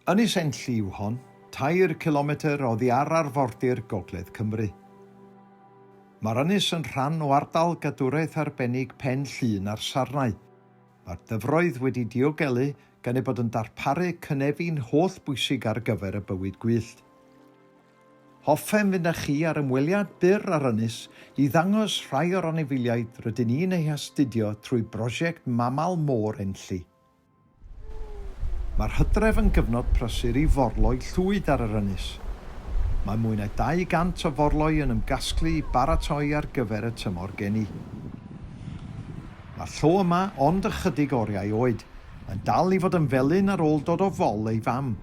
Ynys Enlli yw hon, tair cilometr oddi ar arfordir gogledd Cymru. Mae'r ynys yn rhan o Ardal Gadwraeth Arbennig Pen Llŷn a'r Sarnau. Mae'r dyfroedd wedi diogelu gan eu bod yn darparu cynefin holl bwysig ar gyfer y bywyd gwyllt. Hoffem fynd â chi ar ymweliad byr â'r ynys i ddangos rhai o'r anifeiliaid rydyn ni'n eu hastudio trwy brosiect Mamal Môr Enlli. Mae'r hydref yn gyfnod prysur i forloi llwyd ar yr ynys. Mae mwy na 200 o forloi yn ymgasglu i baratoi ar gyfer y tymor geni. Mae'r llo yma ond ychydig oriau oed, yn dal i fod yn felyn ar ôl dod o fol ei fam.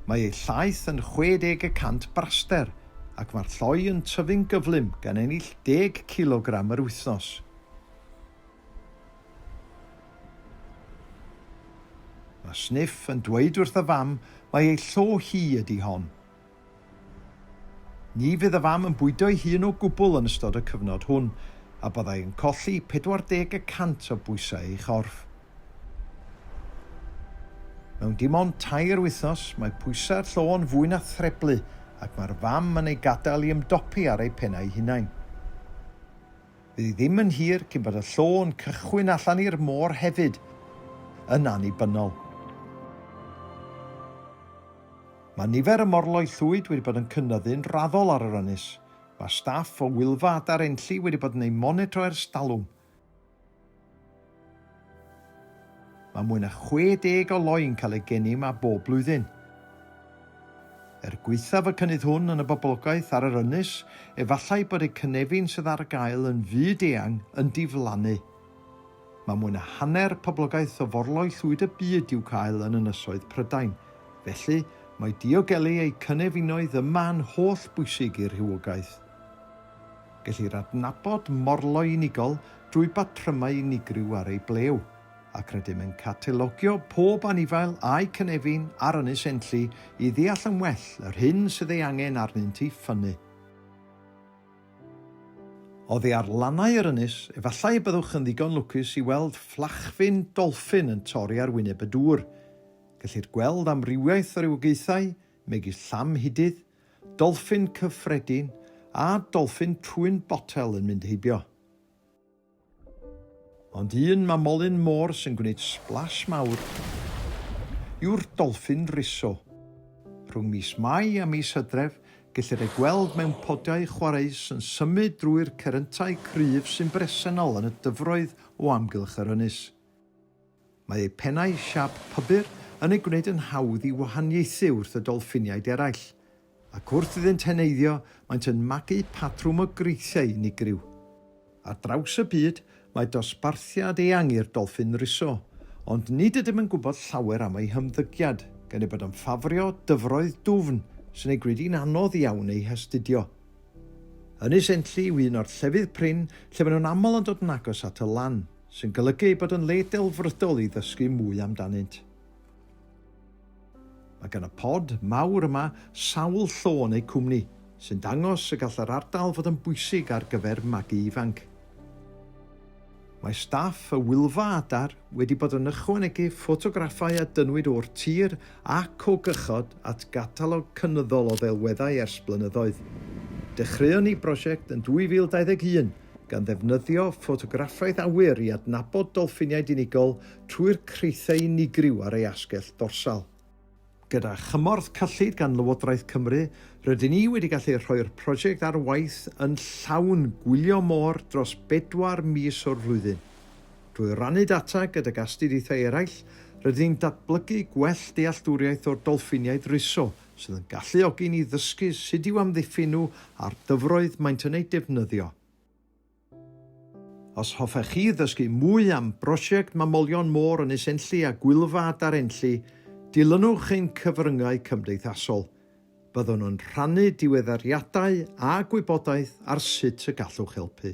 Mae ei llaeth yn 60 y cant braster ac mae'r lloi yn tyfu'n gyflym gan ennill deg cilogram yr wythnos. Mae Sniff yn dweud wrth y fam mai ei llo hi ydi hon. Ni fydd y fam yn bwydo'i hun o gwbl yn ystod y cyfnod hwn, a byddai yn colli 40 y cant o bwysau ei chorff. Mewn dim ond tair wythnos, mae pwysau'r llo yn fwy na threblu ac mae'r fam yn ei gadael i ymdopi ar ei pennau hunain. Bydd ddim yn hir cyn bod y llo'n cychwyn allan i'r môr hefyd, yn annibynnol. Mae nifer y morloi llwyd wedi bod yn cynyddu'n raddol ar yr ynys. Mae staff o Wylfa Adar Enlli wedi bod yn eu monitro ers talwm. Mae mwy na 60 o loi'n cael eu geni yma bob blwyddyn. Er gwaethaf y cynnydd hwn yn y boblogaeth ar yr ynys, efallai bod eu cynefin sydd ar gael yn fyd-eang yn diflannu. Mae mwy na hanner poblogaeth o forloi llwyd y byd i'w cael yn ynysoedd Prydain, felly mae diogelu eu cynefinoedd yma yn holl bwysig i'r rhywogaeth. Gellir adnabod morloi unigol drwy batrymau unigryw ar ei blew, ac rydym yn catalogio pob anifail a'u cynefin ar Ynys Enlli i ddeall yn well yr hyn sydd ei angen arnynt i ffynnu. Oddi ar lannau yr ynys, efallai y byddwch yn ddigon lwcus i weld fflachfin dolffin yn torri ar wyneb y dŵr. Gellir gweld amrywiaeth o rywogaethau, megis llamhidydd, Dolffin cyffredin a dolffin trwyn botel yn mynd heibio. Ond un mamolyn môr sy'n gwneud sblas mawr yw'r dolffin riso. Rhwng mis Mai a mis Hydref, gellir ei gweld mewn podiau chwareus yn symud drwy'r ceryntau cryf sy'n bresennol yn y dyfroedd o amgylch yr ynys. Mae eu pennau siâp pybyr yn eu gwneud yn hawdd i wahaniaethu wrth y dolffiniaid eraill, ac wrth iddynt heneiddio maent yn magu patrwm o greithiau unigryw. Ar draws y byd, mae dosbarthiad eang i'r dolffin riso, ond nid ydym yn gwybod llawer am eu hymddygiad, gan eu bod yn ffafrio dyfroedd dwfn sy'n eu gwneud hi'n anodd iawn eu hastudio. Ynys Enlli yw un o'r llefydd prin lle maen nhw'n aml yn dod yn agos at y lan. sy'n golygu ei bod yn le delfrydol i ddysgu mwy amdanynt. Mae gan y pod mawr yma sawl llo neu cwmni, sy'n dangos y gall yr ardal fod yn bwysig ar gyfer magu ifanc. Mae staff y Wylfa Adar wedi bod yn ychwanegu ffotograffau a dynnwyd o'r tir ac o gychod at gatalog cynyddol o ddelweddau ers blynyddoedd. Dechreuon ni brosiect yn 2021 gan ddefnyddio ffotograffaeth awyr i adnabod dolffiniaid unigol trwy'r creithiau unigryw ar ei asgell dorsal. Gyda chymorth cyllid gan Lywodraeth Cymru, rydyn ni wedi gallu rhoi'r prosiect ar waith yn llawn gwylio môr dros bedwar mis o'r flwyddyn. Drwy rannu data gydag astudiaethau eraill, rydyn ni'n datblygu gwell dealltwriaeth o'r dolffiniaid riso sydd yn galluogi ni ddysgu sut i'w amddiffyn nhw a'r dyfroedd maent yn eu defnyddio. Os hoffech chi ddysgu mwy am brosiect Mamolion Môr Ynys Enlli a Gwylfa Adar Enlli, dilynwch ein cyfryngau cymdeithasol. Byddwn yn rhannu diweddariadau a gwybodaeth ar sut y gallwch helpu.